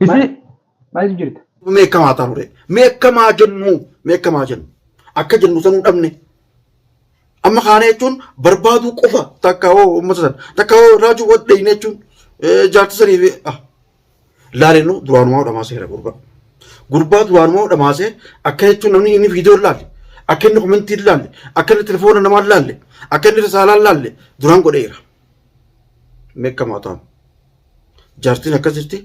Isi maalitu jirta? Mee akkam haa taanu ree? Mee akkam haa jennu? Mee akkam haa jennu? Akka jennu sanuu dhabne. Amma kaana jechuun barbaaduu qofa takka hoo uummata sana takka hoo raajuu wal dhayne jechuun eh, jaartii sanii fi ah. Laalennu duraanumaa dhamaasee jira gurbaa. Gurbaa duraanumaa dhamaasee akka jechuun namni inni viidiyoo laalle akka inni komentii laalle akka inni telefoona namaa laalle akka inni risaalaa laalle duraan godheera. Mee akkam haa taanu? Jaartiin akkas jirti.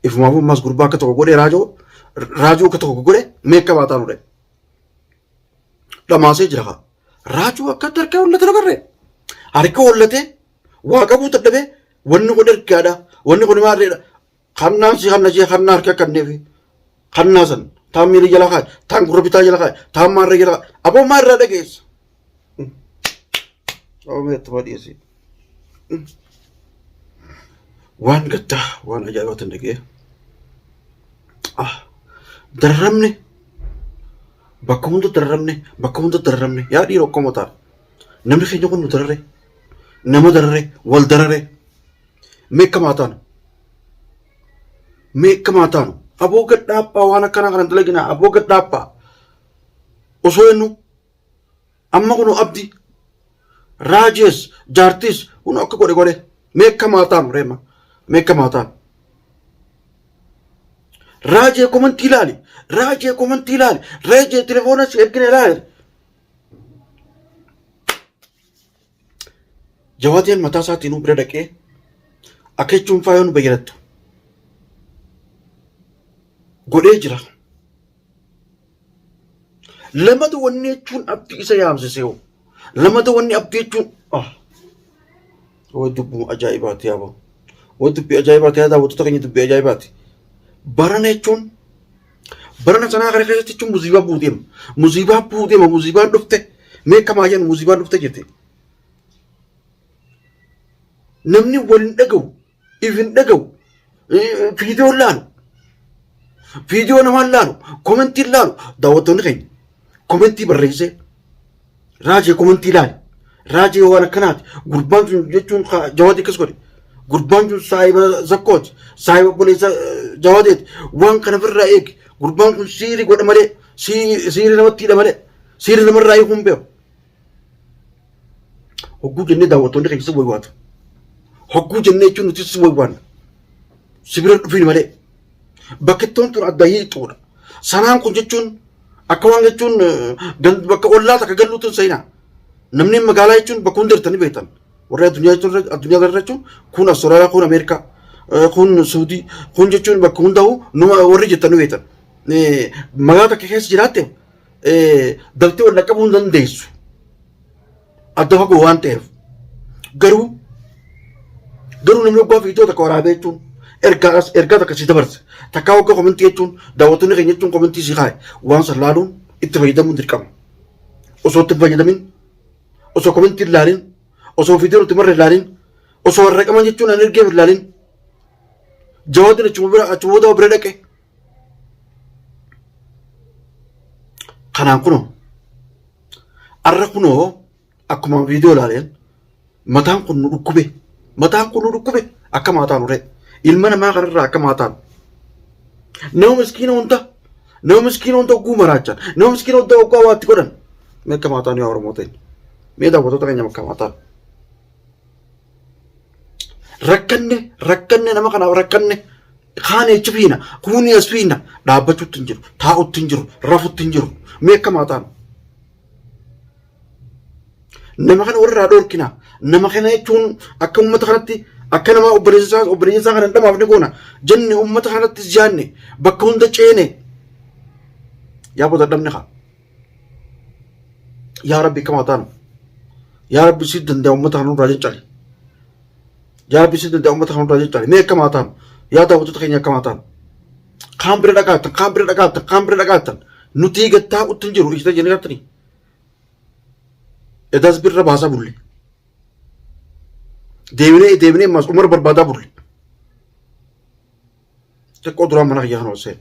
Ifumaaf ammas gurbaa akka tokko godhee raajoo raajoo akka tokko godhe meekka baataa nure. Dhamaasee jira haa. Raajoo akkatti harka hollate dabarre. Harka hollatee waa qabuu dadhabee wanni kun ergaadha. Wanni kun maarreedha. Kannaan si hanna jee kannaa harka kanneefi. Tan naasan, taan miilii jala kaa'i, taan gurra bitaa jala kaa'i, taan maarree jala kaa'i. Aboo maa irraa dhageessa? Oomee itti badhiisi. Waan gaddaa, waan ajaa'ibaa tan dhagee. Ah, darramne. Bakka hunda darramne, bakka hunda darramne. Yaa dhiiroo akkuma ta'a. Namni keenya kun nu darare. Nama darare, wal darare. Meeqa maataan? meekkamaa taanu aboo gad dhaabaa waan akkana kana dalaginaa aboo gad dhaabaa osoo jennu amma kun abdi raajees jaartiis kun akka godhe godhe meekkamaa taanu reema meekkamaa taanu. Raajee komantii ilaali raajee komantii ilaali raajee telefoona si ergina ilaali. Jawaadiyaan mataa isaatiinuu bira dhaqee akka jechuun faayoo nu bayyanattu godhee jira. Lamata wanni jechuun abdii isa yaamsisee hoo lamata wanni abdii jechuun ah way dubbuma ajaa'ibaati yaaba way dubbii ajaa'ibaati yaa daawwattoota keenya dubbii ajaa'ibaati barana jechuun Barana sanaa kana keessatti jechuun musiibaa buuteema. Musiibaa buuteema musiibaan dhufte meekamaa jennu musiibaan dhufte jette. Namni wal hin dhaga'u, if hin dhaga'u, viidiyoo hin laalu. Viidiyoo namaa hin laalu, komentii hin laalu. Daawwattoonni keenya komentii barreessee Raajii komantii ilaali. Raajii waan akkanaati. Gurbaan sun jechuun ka- jawaadii akkas godhe. Gurbaan sun saahiba zakkooti. Saahiba obboleessa eh, jawaadeeti. Waan kana ofirraa eegi. Gurbaan kun siiri godha malee siiri siiri namatti hidha malee siiri namarraa hiikuu hin beeku. Hogguu jennee daawwattoonni keessa waywaatu. Hogguu jennee jechuun nutis waywaanna. Si bira dhufiin malee. Bakkittoon tun adda hiixuudha. Sanaan kun jechuun akka waan jechuun bakka ollaa takka galluu tun seenaa. Namni magaalaa jechuun bakka hundi jirtanii beektan. Warri addunyaa jechuun addunyaa irra jechuun kun Awustiraaliyaa kun Ameerikaa kun Suudii kun jechuun bakka hunda'u numa warri jirtanii beektan. Magaalaa takka keessa jiraatte daltee wal dhaqqabuu hin dandeessu. adda fagoo waan ta'eef garuu garuu namni oggaa viidiyoo takka waraabee jechuun ergaa as- ergaa takka si dabarse takkaa oggaa komentii jechuun daawwattoonni keenya jechuun komentii si kaa'e waan san laaluun itti fayyadamuun dirqama osoo itti hin fayyadamin osoo komentii hin laalin osoo viidiyoo nuti marre hin laalin osoo warra qaban jechuun an ergeef hin laalin jawaadin achuma bira achuma booda bira dhaqe Kanaan kunoo arra kunoo akkuma viidiyoo ilaaleen mataan kun nu dhukkube mataan kun nu dhukkube akka maataan uree ilma namaa kanarraa akka maataan nama miskiina hunda nama miskiina hunda ogguu maraachan nama miskiina hunda oggaa waatti godhan mee akka maataan yaa oromoo ta'e mee daawwatoota keenya akka maataan. rakkanne rakkanne nama kanaaf rakkanne kaan eechi fiina kuuni as fiina dhaabbachuutti hin jiru taa'utti hin jiru rafutti hin jiru mee akka maataan nama kana warraa dhorkina nama kana jechuun akka uummata kanatti akka nama obboleessaa obboleessaa kana hin dhamaafne goona jenne uummata kanatti jaanne bakka hunda ceene yaa bota dhabne kaa. yaa rabbi kamaa taanu yaa rabbi si danda'a ummata kana nurraa caccali yaa rabbi si danda'a ummata kana nurraa caccali mee kamaa taanu yaa daawwattoota keenya kamaa taanu kaan bira dhaqaatan kaan bira dhaqaatan kaan bira dhaqaatan nutii gattaa uttin jiru ijita jennee gattanii edaas birra baasaa bulle deebinee deebinee maas umar barbaadaa bulle xiqqoo duraan mana kiyyaa kana osee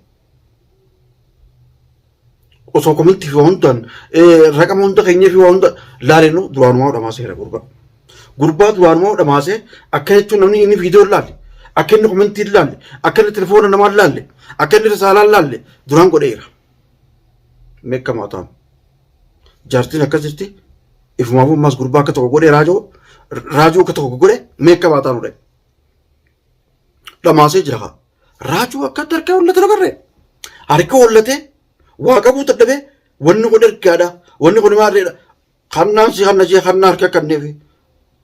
osoo komentii fi waa hundaan raqama hunda keenyee fi waa hunda laalennu duraanumaa dhamaaseera gurbaa. Gurbaa duraanumaa dhamaasee akka jechuun namni inni viidiyoo laalle akka inni komentii laalle akka inni telefoona namaa laalle akka inni risaalaa laalle duraan godheera. Meekka maataan jaartiin akkas jirti ifumaaf ammaas gurbaa akka tokko godhee raajoo raajoo akka tokko godhe meekka maataan godhe dhamaasee jira kaa. Raajuu akkatti harkaa hollatu dabarre. Harka hollatee waa qabuu dadhabee wanni kun ergaadha wanni kun maarreedha. Kannaan si kanna ishee kannaa harka kanneefi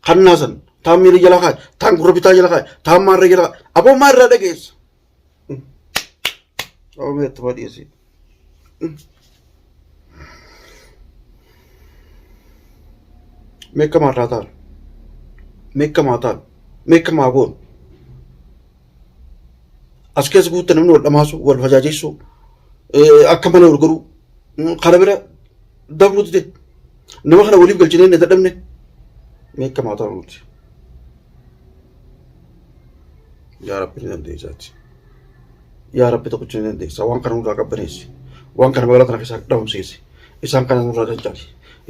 kannaa san taan miilii jala kaa'e taan gurra bitaa jala kaa'e taan maarree jala kaa'e aboo maarraa dhageessa. Aboo meetti waa dhiyeessee. Mekka marraa taal. Mekka maa taal. Mekka maa goon. As keessa guutte namni wal dhamaasu, wal fajaajeessu, akka malee wal godhu. Kana bira dabruu dide. Nama kana waliif galchinee hin dadhabne. Mekka maa taal nuti. Yaa Rabbi ni dandeessaati. yaa rabbi tokkicha ni dandeessa waan kana nurraa qabbaneessi waan kana magaalaa tana keessaa dhabamsiisi isaan kana nurraa cancali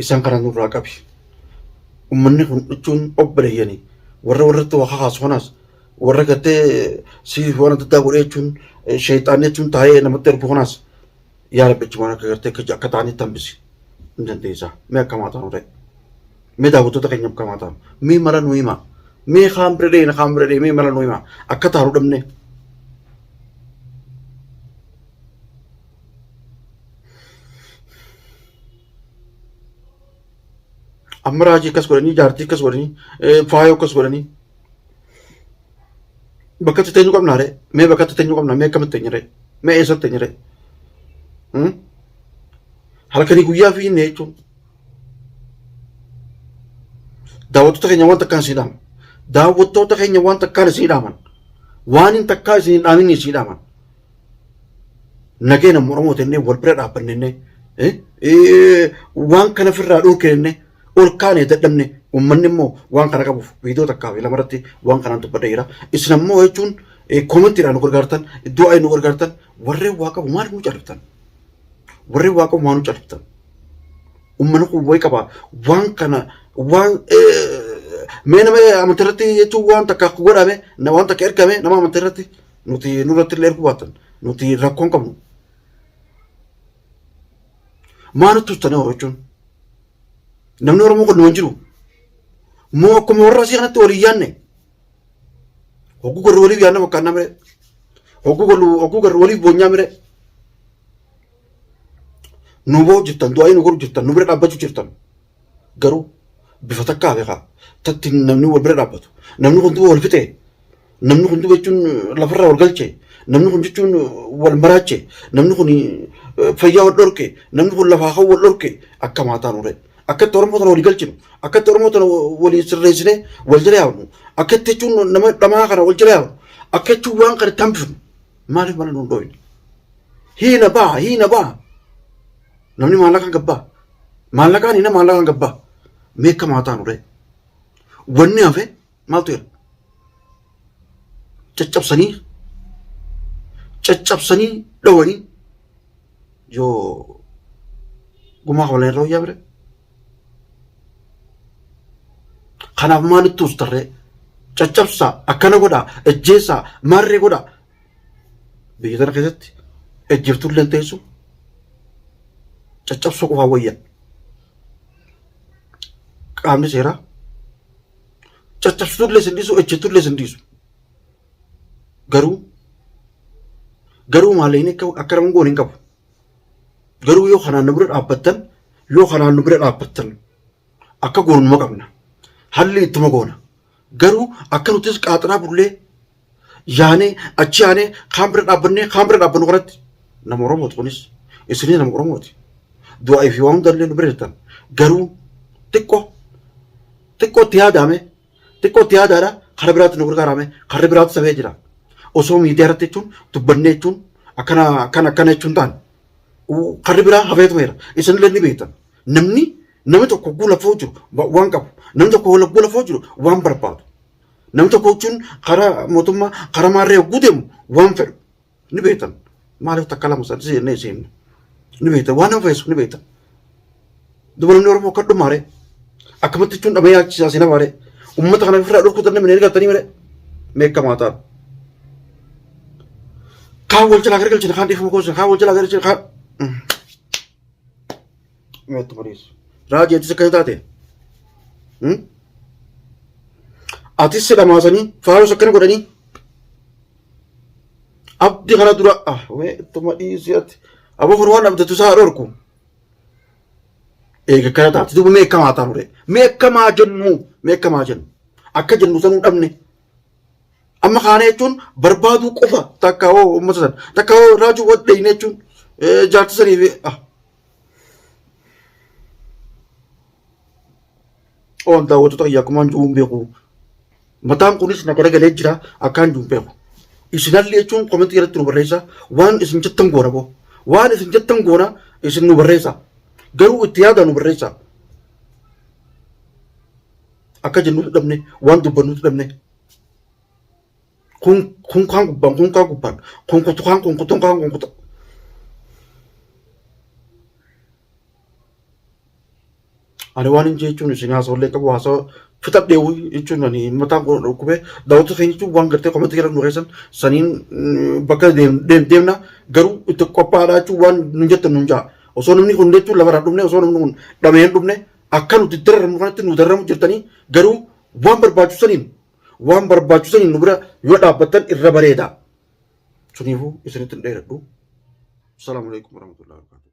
isaan kana nurraa qabi ummanni kun jechuun obboleeyyanii warra warratti waa kakaasu kanaas warra gattee siif waan adda addaa godhee jechuun sheexaanni jechuun taa'ee namatti ergu kanaas Yaa Rabbi achumaan akka gartee akka akka ta'anitti hambisi. Hin dandeessaa. Mee akkamaa ta'an ta'e. Mee daawwattoota keenya akkamaa ta'an. Mee mala nu himaa. Mee kaan bira dhee kaan bira dhee mee mala nu himaa. Akka taaru dhabnee. Amma raajii akkas godhanii jaartii akkas godhanii faayoo akkas godhanii. Bakkatti teenyu qabna ree? Mee bakkatti teenyu qabna? Mee akkamitti teenyu ree? Mee eessatti teenyu ree? Halkanii guyyaa fi inni jechuun daawwattoota keenya waan takkaan sii dhaaman. Daawwattoota keenya waan takkaan isii dhaaman. Waan hin takkaa isin hin dhaamin isii dhaaman. Nageenya Oromoo tennee wal bira dhaabbannee waan kana ofirraa dhorkine ol kaane dadhabne ummanni immoo waan kana qabuuf viidiyoo takkaa fi lama irratti waan kanaan dubbadha jira. Isin ammoo jechuun koomentiidhaan nu gargaartan iddoo ayi nu gargaartan warreen waa qabu maaliif nu calliftan? Warreen waa qabu maaliif nu calliftan? Ummanni kun wayi qaba waan kana waan mee nama amantii irratti jechuun waan takka godhame waan takka ergame nama amantii irratti nuti nurratti illee erguu baatan nuti rakkoon qabnu. Maa nutti turtanii horachuu? Namni Oromoo kun numan jiru. Moo akkuma warra asii kanatti walii yaanne. Hogguu garuu waliif yaanna fakkaannaa miree. Hogguu garuu hogguu garuu waliif boonyaa miree. Nu ba'u jirtan du'aa nu godhu jirtan nu bira dhaabbachuu jirtan. Garuu bifa takkaa beekaa tatti namni wal bira dhaabbatu namni kun duba wal fixee namni kun duba jechuun lafarraa wal galche namni kun jechuun wal maraache namni kun fayyaa wal dhorke namni kun lafaa kan wal dhorke akka maataan ture akkatti oromoo tana walii galchinu akkatti oromoo tana walii sirreessine wal jala yaabnu akkatti jechuun nama dhamaa kana wal jala yaabnu akka jechuun waan kana tambifnu maaliif mana nuun dhooyne hiina baha hiina baha Namni maallaqaan gabbaa. Maallaqaan inni maallaqaan gabbaa. Meekka maataan uree. Wanni hafe maaltu jira? Caccabsanii caccabsanii dhowanii yoo gumaa kabalan irra wayyaa bire. Kanaaf maalitti ustarree? Caccabsaa akkana godhaa ajjeessaa maarree godhaa biyya tana keessatti ejjirtullee hin teessu caccabsuu qofaa wayya qaamni seeraa caccabsitullee sin dhiisu ejjitullee sin dhiisu garuu garuu maalee inni akka nama goon hin qabu garuu yoo kanaan nu bira dhaabbattan yoo kanaan nu bira dhaabbattan akka goonuma qabna halli ittuma goona garuu akka nutis qaaxaraa bullee yaanee achi yaanee kaan bira dhaabbannee kaan bira dhaabbannu kanatti nama Oromooti kunis isinis nama Oromooti du'aa fi waan hundallee nu bira jirtan garuu xiqqoo xiqqoo itti yaadaame xiqqoo itti yaadaadha karaa biraatti nu gargaaraame karri biraatti sabee jira osoo miidiyaa irratti jechuun dubbannee jechuun akkana akkana akkana jechuun taane karri biraa hafeetumeera isinillee ni beektan namni namni tokko guula foo jiru waan qabu namni tokko guula foo jiru waan barbaadu Nam tokko jechuun karaa mootummaa karaa maarree hogguu deemu waan fedhu ni beektan. Maaliif takka lama sadii seennee seenne ni beektan waan nama feesu ni beektan. Duba namni Oromoo akka dhumaare akkamatti jechuun dhamee yaachisaa si namaare uummata kana ofirraa dhorkuu danda'e minee argatanii mire meekkamaa ta'a. Kaan wal jalaa gargalchina kaan dhiifama goosina kaan wal jalaa gargalchina kaan. meetti bariisu. Raajii atis akkana taate. Hmm? Atis si dhamaasanii faarus akkana godhanii. Abdi kana dura ah wee ittuma dhiisii ati. Aboo furu waan abdatu isaa dhorku. Eega akkana taate duuba mee akkamaa taanu ree. Mee akkamaa jennu mee akkamaa jennu. Akka jennu sanuu dhabne. Amma kaana jechuun barbaaduu qofa takka hoo uummata sana takka hoo raajuu wadheeyne jechuun eh, jaarti sanii fi ah Oon daawwattoota kiyya akkumaan jiruun beeku. Mataan kunis na garagalee jira akkaan jiruun beeku. Isinalli jechuun komentii irratti nu barreessa waan isin jettan goona boo. Waan isin jettan goona isin nu barreessa. Garuu itti yaada nu barreessa. Akka jennutu dhabne waan dubbannutu dhabne. kunkaan gubbaan kunkaan gubbaan kunkutukaan kunkutukaan kunkutu. Ani waan hin jechuun isin haasawallee qabu haasawa fixadheewu jechuun ani mataan koo dhukkubee daawwatu keenya jechuun waan gartee komantii jedhan nu keessan saniin bakka deemna garuu itti qophaa'aadha jechuun waan nu jettan nu ja'a. Osoo namni kun jechuun lafarraa dhumne osoo namni kun dhamee hin dhumne akka nuti dararamu kanatti nu dararamu jirtanii garuu waan barbaachisaniin Waan barbaachisu saniin nu bira yoo dhaabbattan irra bareeda. Suniifuu isinitti hin dheeradhu. Salaamu alaikum warahmatullahi wabarakatuh.